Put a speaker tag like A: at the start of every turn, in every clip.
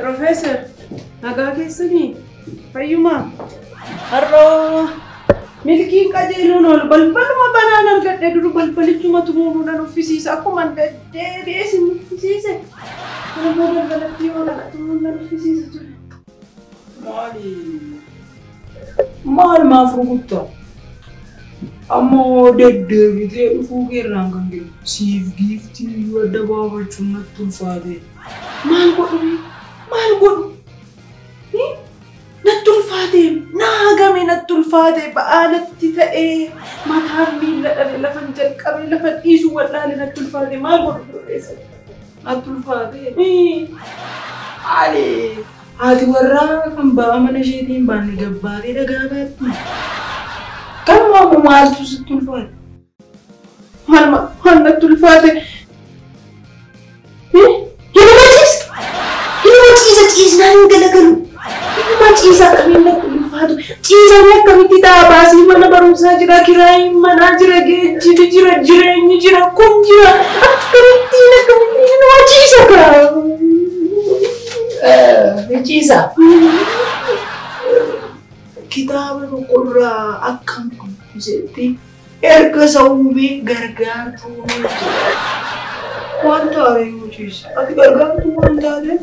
A: Professor, nagaa keessanii fayyumaa har'oo milkiin qajeeluun ol balbaluma banaan argadhe duru balbalichuma tumuudhaan uffisiisa akkuma deddeebi'ee sin uffisiise. Kun immoo balbalatti yoo dhaqatu nan uffisiisa ture. Maali?
B: Maal maaf rukutta? Ammoo deddeebitee dhufuu keerraan kan ka'e siif giiftii iyyuu adda baafachuun natti ulfaate. Maal godhu
A: mee? Maal godhu? Hi? Natti ulfaate, na hagame natti ulfaate, ba'aa natti ta'e, mataan miilla dhabe lafan jalqabe lafan dhiisu wal'aale natti ulfaate maal godhu biro keessatti? Natti
B: ulfaate. Maalee haati warraa kan ba'aa mana isheetii hin baanne gabbaatee dhagaa baatti. Kanuma ammoo maaltu sitti ulfaate? Maal ma-
A: maal natti ulfaate? Hin waciistu! Hin waciisa ciisnaan hin galagalu. Nama ciisa akkamiin natti ulfaatu ciisanii akkamitti ta'a baasii mana barumsaa jira kiraayiin manaa jira geejjibi jira jireenyi jira kun jira akkamittiin akkamittiin nama ciisa kaa.
B: Ni ciisa. Kitaaba tokkorraa akkam dubbisetti erga isa uumee gargaartuu uumee jira. Wanta ari'uu ciisa. Ati gargaartuu waan taateef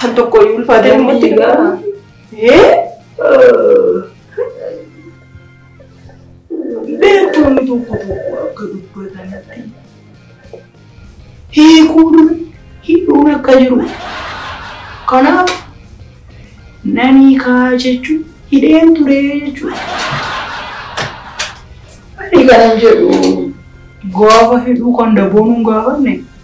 A: Kan tokko iyyuu ulfaatee namatti dhaga'ama.
B: Beektonni tokko tokko akka dubbatanitti hiikuun hidhuun akka jiru. Kanaaf nan hiikaa jechuun hidheen ture jechuudha. Ani kanan jedhu gaafa hidhuu kan daboonuun gaafanne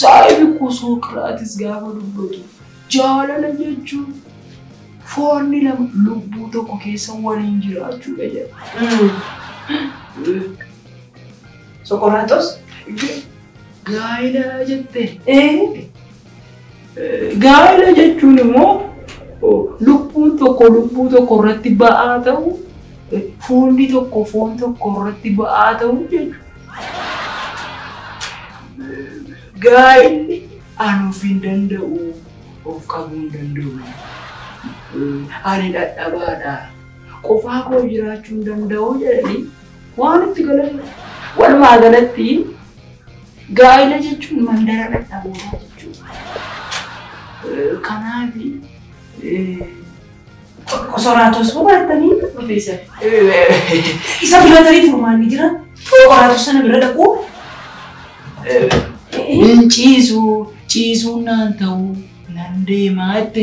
B: Saahibi koo Sooqiraatis gaafa dubbatu jaalala jechuun foonni lama lubbuu tokko keessa waliin jiraachuudha jedha.
A: Soqoraaxos gaa'ela
B: jette. Gaa'ela jechuun immoo lubbuun tokko lubbuu tokko irratti ba'aa ta'u, foonni tokko foon tokko irratti ba'aa ta'u jechuudha. Gaa'elli ani of hin danda'u, of qabuu hin danda'u, ani dadhabaadha, qofaa koo jiraachuu hin danda'u jedhanii Waan itti galamudha. Walumaa galatti gaa'ila jechuun mandara dhadhabootaa jechuudha. Kanaaf
A: qosoraatos hubaattanii profeesar. Isa bira tarii furmaanni jira. Qosoraatos sana bira dhaquu. Hin ciisu
B: ciisuun naan ta'uu nan deemaa jette.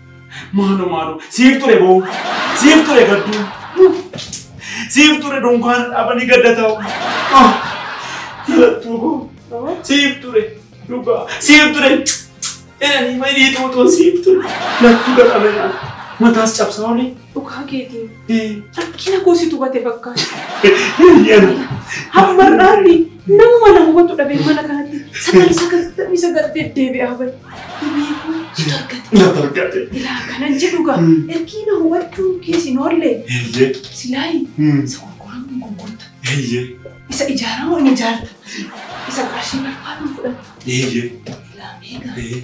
B: Maaloo maaloo siif ture boo siif ture gadduu siif ture dunkaana dhaabanii gadda ta'u. Galattuu koo siif ture dhugaa siif ture jedhanii marii tuutuun siif ture lattuu gadhamee mataa cabsaa olii. Dhugaa keetiin.
A: Rakkina koo situ bate fakkaata. Hamma
B: irraatti nama mana
A: hubatu dhabee mana kanatti sagal sagaltamii sagal deddeebi'aa bari. Dhibee koo situ argate. Na targate. Ilaa kanan jedhu gaa ergii na hubachuu kees hin oolle Eeyyee. silaayi isa gurguramu hin gurgurta. Eeyyee. Isa ijaaramu hin ijaarta. Isa qarshii barbaadu hin fudhata. Eeyyee. Ilaa meeqa? Ee.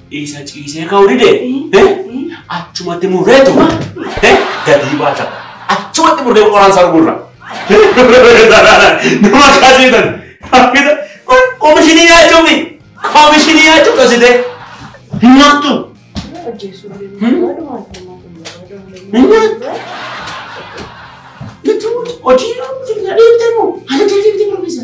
A: Isa ciisee ka'uu dide achumatti murreetu gadii baata. Achumatti murree qoraan isaa gurra. Nama kaasiitan. Komishinii nyaachuu fi komishinii nyaachuu dhositee hin nyaattu. Hojii yoo deemtee moo? Haala deemtee deemtee barbaachisa.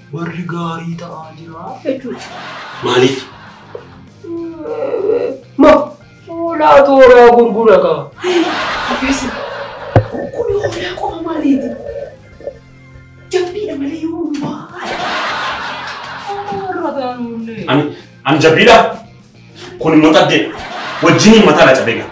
A: Warri gaarii ta'aa jira jechuudha. Maaliif? Ma fuulaa tooraa gurgura qaba. Profeesar, kun hoolaa qofa maaliiti? Jabbiidha malee yoo hundumaa. Warra gaarii. Ani ani jabbiidha. Kun immoo xaddeedha. Wajjiniin mataa na cabee gaa.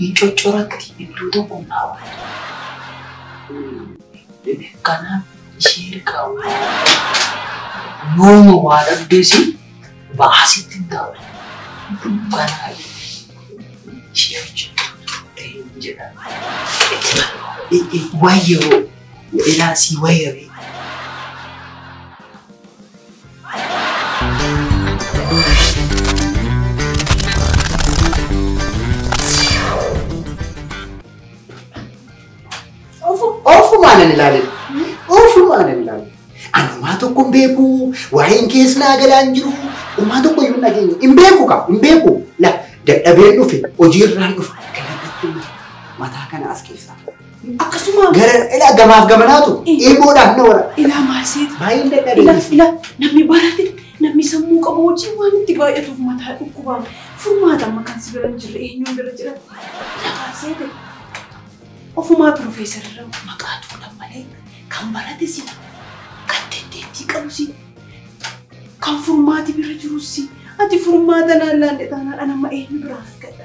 A: Hin coccoratti iddoo tokko hin dhaabbattu. Kanaaf ishee hirkaa wayya. Yooma waa dhabdees
B: ba'aa sitti hin taa'u. Kanaaf ishee wajjin turtee hin jedhamu. Wayya hoo ilaa sii wayya bee. Ofumaan ani ilaalee. Ofumaan ani ilaalee. Ani homaa tokko hin beeku. Waa'een kees naa galaa hin jiru. Homaa tokko iyyuu hin dhageenye. Hin beeku kaa hin beeku. La dadhabeen dhufe hojiirraan dhufa. Kana irratti mataa kana as keessaa. Akkasuma.
A: Gara ila gamaaf
B: gamanaatu eeboodhaan na wara. Ilaa maal seeta?
A: Baay'een dadhabee. Ila
B: ila namni barate
A: namni sammuu qabu wajjin waan itti baay'atuuf mataa dhukkubaa furmaata amma kan si bira hin jirre eenyuun bira jira? Ila maal seete? Ofumaa pirofeesar irra maqaa tuudhaan malee kan barate si kan dandeettii qabu si kan furmaati bira jirus si ati furmaata naan laanne taanaan an amma eenyu biraa argadha?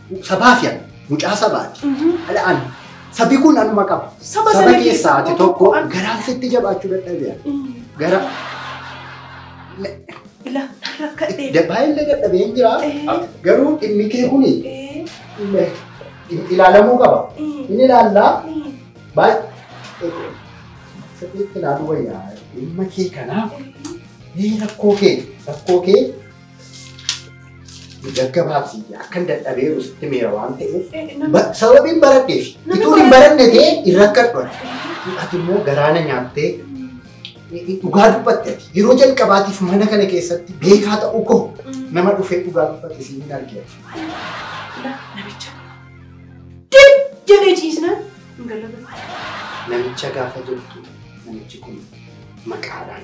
B: Sabaaf yaa mucaa sabaati. Ala an sabi kun anuma qaba. Saba sana keessaa keessaa ati tokko tokko akka- garaan sitti jabaachuu dadhabeera. Gara Ila rakkadhee. baay'ee dadhabee hin jira. Eh. Garuu dhimmi kee kun Eh, ilaalamuu qaba. eh, Inni ilaallaa eh. baay'ee sirriitti ilaaluu wayyaa dhimma kee kanaa ni rakkoo kee rakkoo kee Gaggabaabsi akkan dadhabeeru sitti meera waan ta'eef sababiin baradheef utuu hin baranne ta'e hin rakkadhu ati. Ati immoo garaana nyaattee dhugaa dubbatte ati. Yeroo jalqabaatiif mana kana keessatti beekaa ta'uu koo nama dhufee dhugaa dubbate siin hin argine. Namicha.
A: Dim jedhee ciisnaan hin gallaban. Namicha
B: gaafa jirtu namichi kun maqaadhaan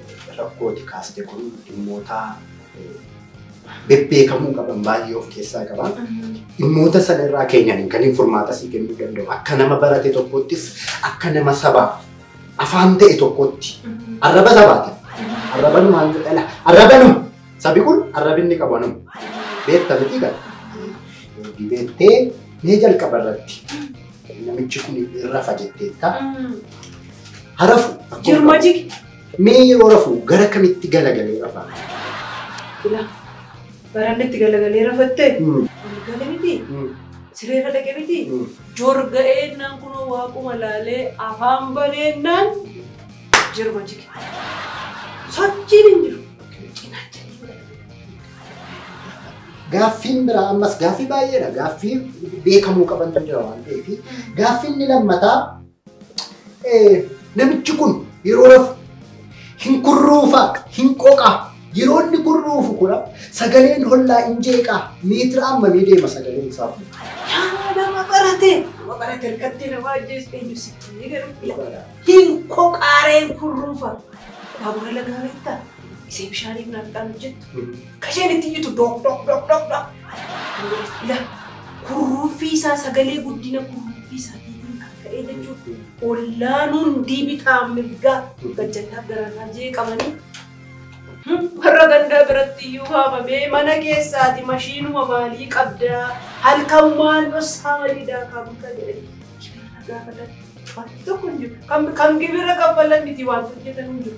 B: Rakkoo ati kaaste kun dhimmoota bebbeekamuu qaban baay'ee of keessaa qaba. Dhimmoota sana irraa keenyaniin kan hin furmaata sii kennuu danda'u. Akka nama barate tokkoottis akka nama sabaaf afaan ta'e tokkootti arraba sabaati. Arrabanu maal jedhala? Arrabanu sabi kun arrabinni qabu anuma. Beekta miti gala. Dibeettee mee jalqaba irratti Namichi kun hin rafa jetteetta. Harafu. akkuma Jirma qabu.
A: jigi. Mee yeroo
B: rafu gara kamitti galagalee rafa? Ila.
A: Baranni itti galagalee rafattee. Hmm. Ol gale miti. Hmm. Sireerra dhaqe miti. Hmm. Jorga eennaan kunoo waaquma laalee afaan baneennaan jirma jige. Sochiin hin jiru. Cinaacha hin jiru.
B: Gaaffiin biraa ammas gaaffii baay'eedha. Gaaffii beekamuu qabantu jira waan ta'eef. Gaaffii inni lammataa namichi kun yeroo rafu hin kurruufa hin qoqa. Yeroo inni kurruufu kura sagaleen hollaa hin jeeqaa meetira hammamii deema sagaleen isaa kun. Yaa nama
A: barate! Nama barate harkatti nama ajjeesu eenyu sitti ni garuu hin koqaareen kurruufa. Baabura lagaa beektaa? Isee bishaaniif naaf dhaanu jettu. Ka isheen itti iyyitu dhoq dhoq dhoq dhoq dhoq. Ila kurruuffii isaa sagalee guddina kurruuffii isaatiitiin kan ka'ee jechuudha. Ollaan hundii bitaa mirgaa gajjallaaf gararraa jeeqamanii warra gandaa biratti iyyuu waamamee mana keessaa ati mashiinuma maalii qabdaa halkan maal dhossaa malii daakaa bultaa jedhanii gibira gaafatan. Wanti tokko hin jiru. Kan gibira kaffalan miti wanti hojjetan hin jiru.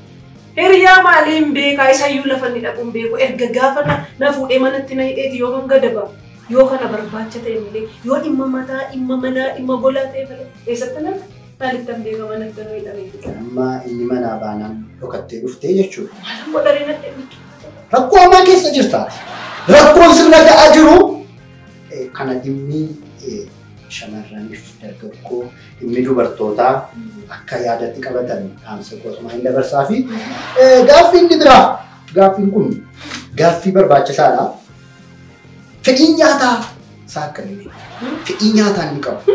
A: Hiriyaa maalee hin beekaa isayyuu lafa inni dhaqu hin beeku erga gaafa na, na fuudhee manatti na hidheeti yoo hanga daba yoo kana barbaacha ta'e malee yoo dhimma mataa dhimma manaa dhimma golaa ta'e malee eessatti na maalitti hin beeka manatti nu hidhamee fixaa. Amma inni manaa
C: baanaan dhokattee dhuftee jechuudha. Maalan godharee na
A: dhimmitu. Rakkoo hamaa keessa
C: jirta. Rakkoon sirna ga'aa jiru eh, kana dhimmi eh, shamarraniif dargaggoo Dhimmi dubartootaa akka yaadatti qabatan dhaamsa koo asumaan hin dabarsaa fi gaaffii inni biraa gaaffiin kun gaaffii barbaachisaadha. Fedhiin nyaataa isaa akkamii? Fedhii nyaataa inni qabu.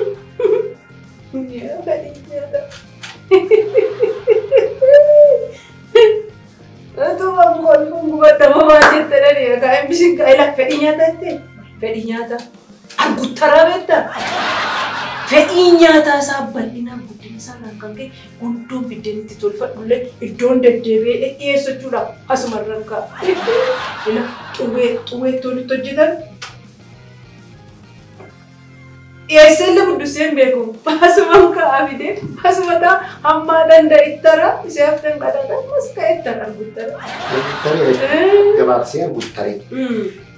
C: Utuma
A: kolfuun gubadda mamaa jette dhani egaa imbisiin gaa'ela fedhii nyaataa jette fedhii nyaataa. Arguttaraa beektaa? Fedhiin nyaataa isaa bal'inaan guddina isaarraan kan ka'e gundoo biddeen itti tolfadhullee iddoon deddeebi'ee dhiyeessu jechuudha. Asuma irraan ka'a. Ila xuwwee xuwwee ittoon itti hojjetan dhiyeessee illee buddussee hin beeku. Asuma ka'aa fidee asuma ta'a hammaa danda'a ittara isee hafteen qadaadha ammas ka'e ittara arguttara. Arguttaree beektaa? Gabaabsee
C: arguttaree.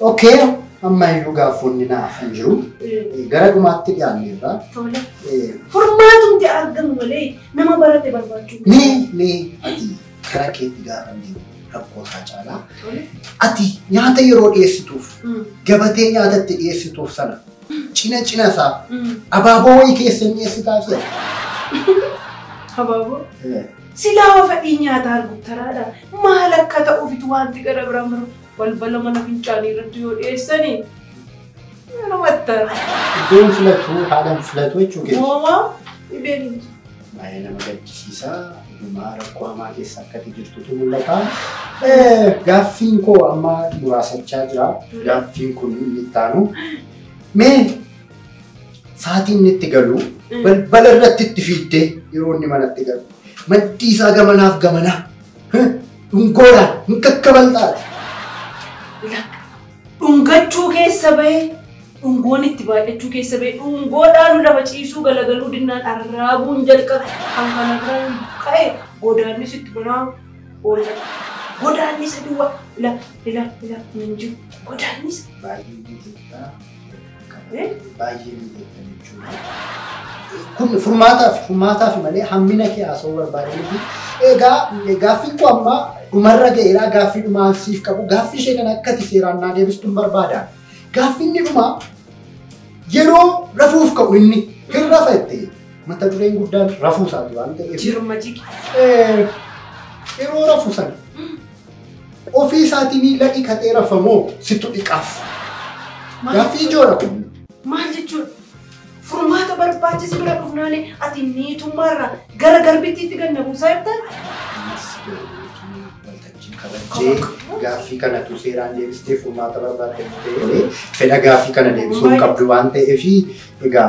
C: Ok, amma iyyuu gaaffoonni na hafan jiru. Gara dhumaatti dhiyaanneerra. Tole.
A: Furmaatumti argamu malee nama barate barbaachuu miti. Mee mee
C: ati gara keetti gaafa hin deemu rakkoo isaa caalaa Tole. ati nyaata yeroo dhiyeessituuf Mm. gabatee nyaata itti dhiyeessituuf sana cina cina isaa Mm. abaaboo wayii keessa hin dhiyeessitaa fi Habaaboo. ati.
A: Silaa fedhii nyaataa arguttaraadha. Maal akka ta'uufitu wanti gara biraan barbaadu. Balbala mana fincaanii irratti yoo
C: dhiyeessani yoo namattan. Iddoon filatu haalan filatu jechuu keessa. Moomaa dhibeen
A: hin jiru. Baay'ee nama
C: gaddisiisa. Dhumaa rakkoo hamaa keessa akkati jirtutu mul'ata. Gaaffiin koo amma muraasachaa jira. Gaaffiin kun inni itti aanu. Mee sa'aatii inni itti galu balbala irratti itti fiiddee yeroo inni manatti galu maddii isaa gamanaaf gamanaa Dhungoodhaan hin kakkabaltaadha. Lakka.
A: Dhungachuu keessa ba'ee dhungoon itti baay'achuu keessa ba'ee dhungoo dhaalu lafa ciisuu galagaluu dinnaan arraabuun jalqabe kan kana biraan ka'e godaannis itti banaa oola. Godaannisa duwwaa ila ila ila hin jiru godaannisa.
C: Baay'ee miidhagda jechuudha. Kun furmaataaf furmaataaf malee hammina kee haasa'uu barbaade miti. Egaa gaaffiin koo amma dhumarra ga'eera gaaffii dhumaa siif qabu gaaffii ishee kana akkati seeraan naa deebistuun barbaada. Gaaffiin inni dhumaa yeroo rafuuf ka'u inni hin rafa jettee mata dureen guddaan rafuu isaati waan ta'eef. Jirma jigi. Yeroo rafu sana Ofii isaatii miila dhiqatee rafa moo sittu dhiqaaf? Gaaffii ijoodha kun. Maal
A: jechuudha? Furmaata barbaachise bira dhufnaani ati niitummaarraa gara garbittiitti gad na buusaa jirtan? Ammas garootu waltajjii kabajjee gaaffii kana tu seeraan deebistee furmaata barbaadde ta'ee fedha gaaffii kana deebisuu hin qabdu waan ta'eef egaa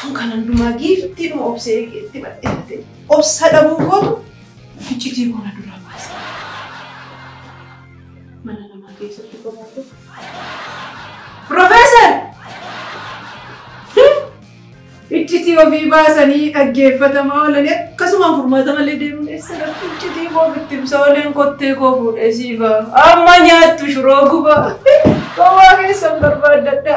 A: Tun kan hundumaa giiftiidhuma obsee eege itti badheeffate. Obsa dhabuu kootu iccitii koo na duraa baase. Mana namaa keessatti kophaa koo. Profeesar! Iccitii ofii baasanii dhaggeeffatamaa oolanii akkasumaan furmaata malee deemuun eessa dhabdu iccitii koo bittimsa ooleen kottee koo fuudhee siifa. Amma nyaattu shuroo guba. Gowwaa keessan barbaaddadha.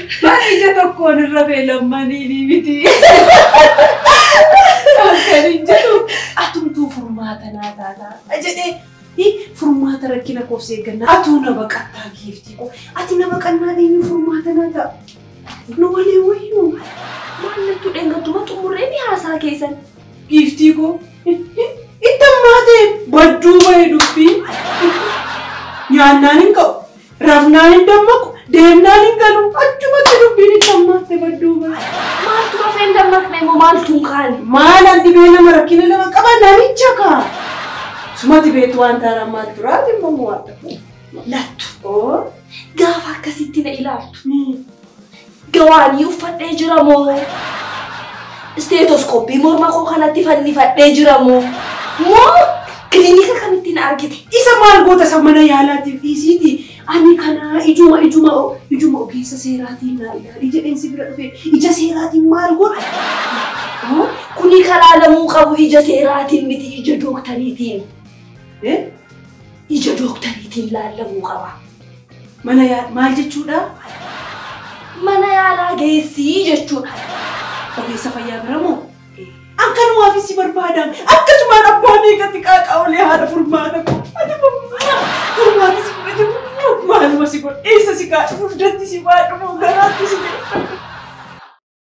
A: Bara ija tokkoon irra beelammanii ni miti. Kan hin jedhu atumtuu furmaata naa taataa jedhee hi, furmaata rakkina koof seegganna atuu na baqattaa giiftii koo ati na baqannaa eenyu furmaata naa ta'a. Nu walii wayyuu maallattu
D: dheengattuma xumurree ni haasaa keessan. giiftii koo
A: itti ammaatee badduu bahe dubbii nyaannaan hin ka'u. Rafnaan hin dammaqu, deemnaan hin galu, achumatti dubbiin itti hammaatte badduu bara. Maaltu rafee hin
D: dammaqne immoo maaltu hin kaane? Maalan dhibee lama
A: rakkina lama qaba namicha kaa. Sumati beektu waan taara ammaa duraati immoo waan ta'u. Lattu. Oo.
D: Gaafa akkasitti na ilaaltu. Gawaanii uffadhee jira moo? Isteetoskooppii morma koo kanatti fannifadhee jira moo? Moo kilinika kamittiin argite? Isa maal goota isa
A: mana yaalaatiif dhiisiiti. Ani kana ijuma ijuma ijuma ogeessa seeraatiin naa ilaali jedheen si bira dhufe. Ija seeraatiin maal goota?
D: Kuni kalaalamuu qabu ija seeraatiin miti ija dooktariitiin. Ija dooktariitiin laallamuu qaba. Mana yaa-
A: maal jechuudha?
D: Mana yaalaa geessii jechuudha. Ogeessa
A: fayyaa bira moo? An kanumaafis si barbaadaan akkasumaan abbaa meeqatti qaaqaa'ulee haadha furmaata koo. Ati moo furmaata si fudhate moo maaluma si godhe eessa si kaa'e dugdatti si baadhu moo garaatti si jedhe.